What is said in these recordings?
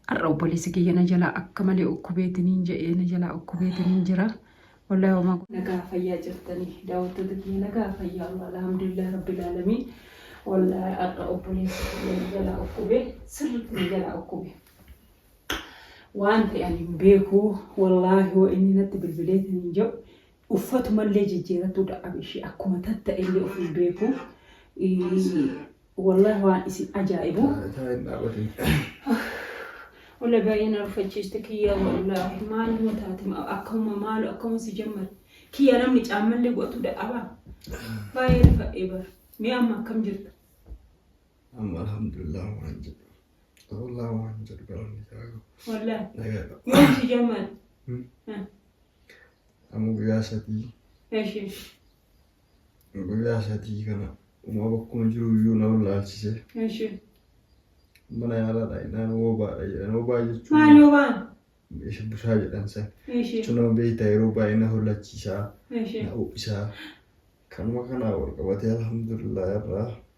Har'a obboleessi kiyya na jalaa akka malee ukkubeetiniin jedhee na jalaa ukkubeetiniin jira. Wallahi homaa nagaa fayyaa jirtanii daawwattoota kiyya nagaa fayyaa Allah alhamdulillah rabbil alamin wallahi har'a obboleessi kiyya na jalaa ukkube sirriitti na jalaa ukkube waan ta'e ani hin beeku wallahi yoo inni natti bilbileetiniin jedhu uffatumallee jijjiiratuu dadhabe ishee akkuma tatta'ellee of hin beeku wallahi waan isin ajaa'ibu Ola baay'ee na rufachiiste kiyyaa wallahi maaluma taate akkuma maalu akkuma si jammate kiyya namni caammallee godhatuu dadhabaa baay'ee rifadhee bara mee amma akkam jirta amma alhamdulillah waan jedhu wallah waan jedhu galanni isaa wallahi nagaa yoo si jammate Amma guyyaa sadii. Eshi. Guyyaa sadii kana uumama akkuma jiru iyyuu na wallaalchise. Eshi. Mana yaalaa dhaayinaan woobaadha jedhan. Woobaa jechuun. Maal yoo baan? Isa busaa jedhan san. Eshi. Jechuun nama beektaa yeroo baay'ee na hollachiisaa, Eshi. na ho'isaa. Kanuma kanaa wal qabatee alhamdulillah irraa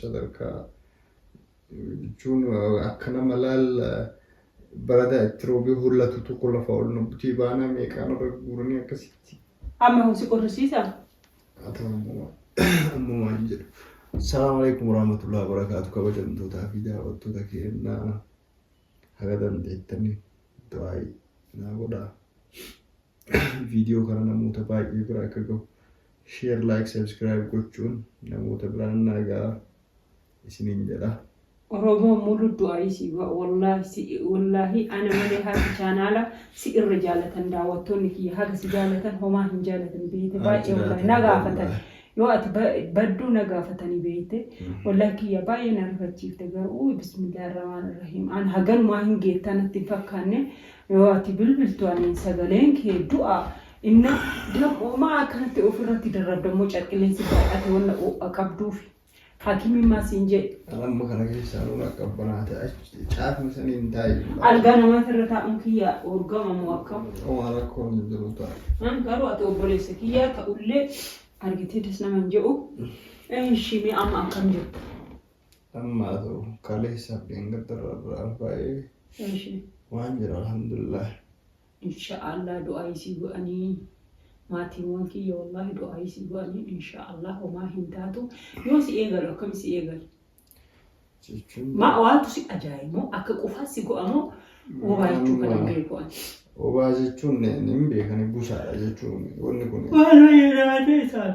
sadarkaa jechuun akka nama laal baradaa itti roobee hollatu tokko lafa ol nu butii baanaa meeqaan irra guuranii akkasitti. Amma kun si qorrisiisa? Haa ta'u ammoo amma waan jedhu. Salaamu alaikum warahmatullahi wabarakatuh kabajamtootaa fi daawwattoota keenyaa haga dandeettanii du'aayi naa godhaa. viidiyoo kana namoota baay'ee bira akka gahu sheer laayik sabskiraayib gochuun namoota biraan naa ga'a isiniin jedha. Oromoo mulu du'aayii si ba'a wallaahi si wallaahi ana malee haati chaanaala si irra jaalatan daawwattoonni kiyya haga si jaalatan homaa hin jaalatan beeyte baay'ee wallaahi na gaafatan yoo ati badduu na gaafatanii beeyte wallaahi kiyya baay'ee na rifachiifte garuu bismillah irramaan irrahiim an haganumaa hin geettaa natti hin fakkaanne Yoo ati bilbiltu ani sagaleen kee du'a inna dam'oo maa akkanatti of irratti darrabdammoo carqileen si baay'ate wanna oo'a qabduufi hakimiin maa siin jee. Amma kana keessaa nuun akka abbanaate achi caafni sanii hin taa'e. Algaa namaati irra taa'uun kiyya urgama moo akkam? Omaa rakkoo hin jiru ta'a. Garuu ati obboleessa kiyya ta'ullee argitee das nama hin je'u. Ishii mee amma akkam jirta? Ammaa ta'u kaleessaaf dheengadda irraa biraan baay'ee Eeshi. waan jira alhamdulillah. Insha'Allah du'aa isii godhanii maatiiwwan kiyya wallaahi du'aa isii godhanii insha'Allah homaa hin taatu yoo si eegalu akkam si eegalu Jechuun maa waatu si ajaa'ibu akka qufaa si go'amoo wobaa jechuu kana hin beeku ani. obaa jechuun ni- ni hin beekani busaadha jechuun wanni kun Waan wayii raatee isaan.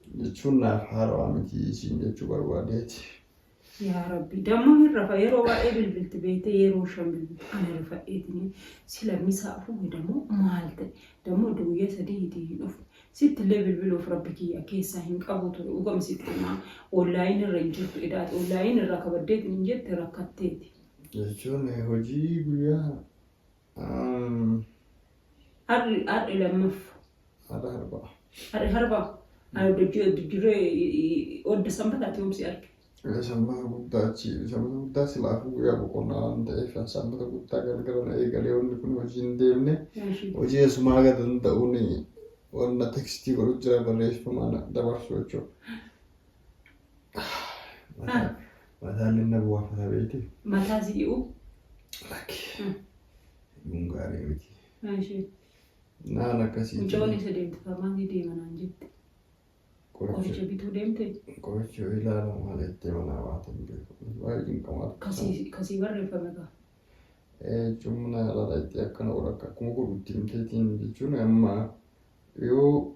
jechuun naaf haarawaa miti siin jechuu barbaadeeti. Yaa rabbi damma hin rafa yeroo baay'ee bilbilti beeyte yeroo shan bilbilti ana rifadheetini sila misaa fuudhe dammo maal ta'e dammo odda guyyaa sadii hitii hin dhufu sitti illee bilbiluuf rabbi kiyya keessaa hin qabu ture dhugama sitti himaa oonlaayin irra hin jirtu idaati oonlaayin irraa kabaddeetiin hin jette rakkatteeti. Jechuun hojii guyyaa Har'i har'i lammaffa. Har'a harba. Har'i harba. Ani oddajjuree odda sanbataatti yoomsi arge. Sanbata guddaa achi sanbata guddaa silaafuu guyyaa boqonnaa waan ta'eef sanbata guddaa galgala na eegalee wanni kun hojii hin deemne hojii eessumaa haga danda'uun wanna tekstii godhu jira barreeffamaan dabarsu jechuudha. Mataan inni na bu'aafata beekti. Mataa si dhi'u. Lakki. Mm. Kun gaarii miti. Ishee. Naan akkasii. Mucoon isa deemte farmaasii deema naan jette. Qoricha Qoricha bituu deemte. qoricha yoo ilaalu maal jettee manaa baatan beeku. Baay'ee cinqamaatu. Kasii kasii barreeffame qaba. Jechuun haala itti akkana godha akkuma godhutti himteetiin jechuun amma yoo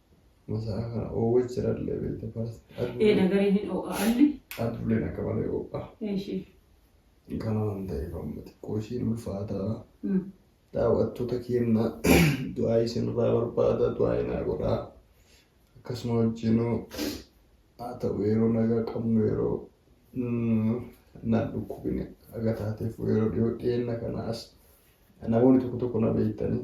Masaraa kana oowwa jiralle beekte faras. Ee nagaree hin oo'a alli. Adduleen akka malee oowwa. Eeshi. Kana waan ta'eef amma xiqqoo ishiin ulfaataa. Mm. Daawwattoota keenya du'aa isinirraa barbaada du'aa inaa godhaa. Akkasuma wajjinuu haa ta'u yeroo nagaa qabnu yeroo mm, naan dhukkubine aga taateef yeroo dhiyoo dhiyeenya kana as namoonni tokko tokko na beektanii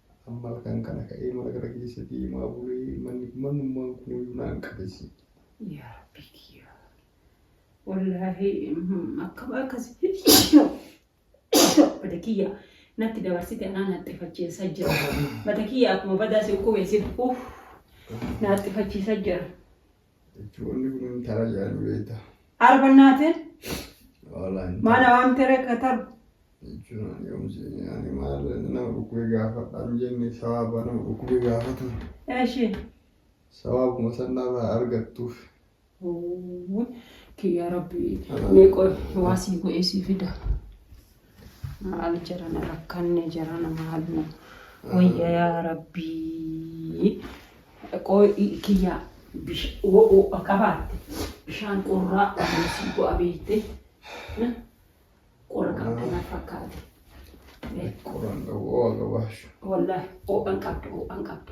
Amma halkan kana ka'ee mana kana keessa deemaa bulee manni manummaan kun iyyuu naan qabessi. Yaa Rabbii kiyyaa. Wallaahi akkam akkas bada kiyya natti dabarsite anaa naxxifachiisa jira. Bada kiyya akkuma badaa si ukkubeessin uff naxxifachiisa jira. Jechuun kun tara jedhan beekta. Arbannaatiin Wallaahi hin maana taru. waamtee reekkataru. Jechuun ani yoomsi ani maal nama dhukkubee gaafadhaan jenne sawaaba nama dhukkubee gaafatan. Eeshi. Sawaabuma sanarraa argattuuf. Kiyya rabbi. Mee qoy waa sii godhee sii fida. Maal jarana rakkanne jarana maal nu wayya yaa rabbii. Qooy kiyyaa ho'a qabaatte bishaan qorraa ogeessi bu'a beekte qora qabda na fakkaate. Qoran qabu ho'a qabaashu. Wallahi ho'an qabda ho'an qabda.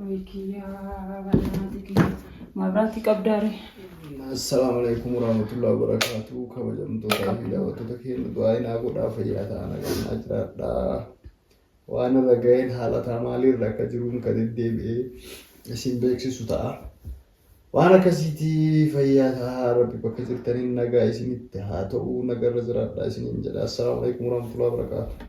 Way kiyyaa barnaati kiyya. Mabraati qabdaare. Assalaamu alaikum warahmatullahi wabarakatuh. Kabajamtoota fi daawwattoota keenya du'aa inaa godhaa fayyaa ta'an agarnaa jiraadhaa. Waan irra ga'een haala ta'a maaliirra akka jiruun kan deddeebi'ee isin beeksisu ta'a. Waan akkasiitii fayyaa ta'aa rabbi bakka jirtaniin nagaa isinitti haa ta'u nagarra jiraadhaa isiniin jedha. Assalaamu alaikum warahmatullahi wabarakatuh.